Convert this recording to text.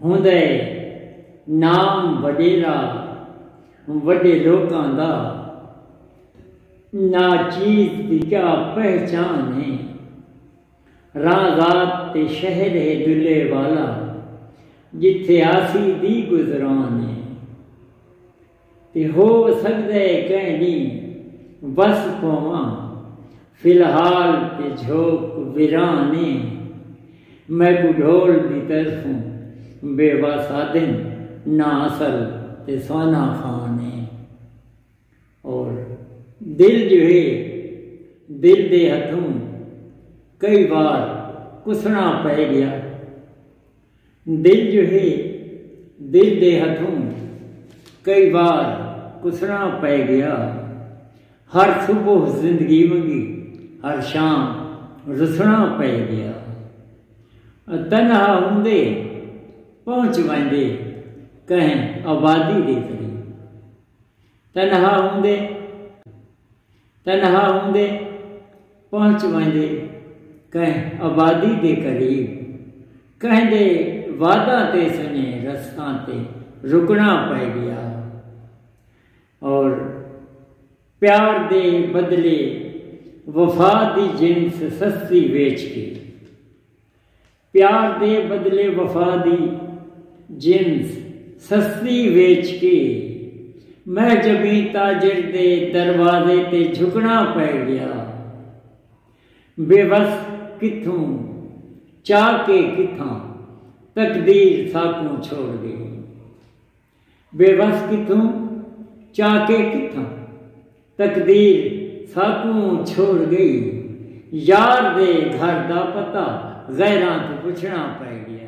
ہوندا ہے نام وڈیرا وڈے لوکاں دا نا چیز دی کیا پہچان ہے رازات تے شہر ہے دلے والا جتھے آسی دی گزران ہے تے ہو سڳدے کہیں ݙینہہ وس پوواں فی الحال تے جھوک ویران اے میکوں ڈھول دی طرفوں بے وس آدھن نہ اصل تے سونا خان اے اور دل جو ہے دل دے ہتھوں کئی وار کسݨا پئے ڳیا۔ دل جو ہے دل دے ہتھوں کئی وار کسنڑاں پئے گیا ہر صبح زندگی ونگی ہر شام رسنڑاں پئے گیا تنہا ہوندے پہنچ ویندے کہیں آبادی دے قریب تنہا ہوندے تنہا ہوندے پہنچ ویندے کہیں آبادی دے قریب کہیں دے واداں تے سنجھے رستاں تے رکنا پئے گیا اور پیار دے بدلے وفا دی جنس سستی ویچ کے پیار دے بدلے وفا دی جنس سستی ویچ کے مہجبی تاجر دے دروازے تے جھکݨا پئے ڳیا۔ بے وس کتھوں چا کے کتھاں تقدیر ساکوں چھوڑ ڳئی۔ بے وس کتھوں چاکے کتھاں تقدیر ساکوں چھوڑ گئی یار دے گھر دا پتہ غیراں توں پچھنڑاں پئے گیا۔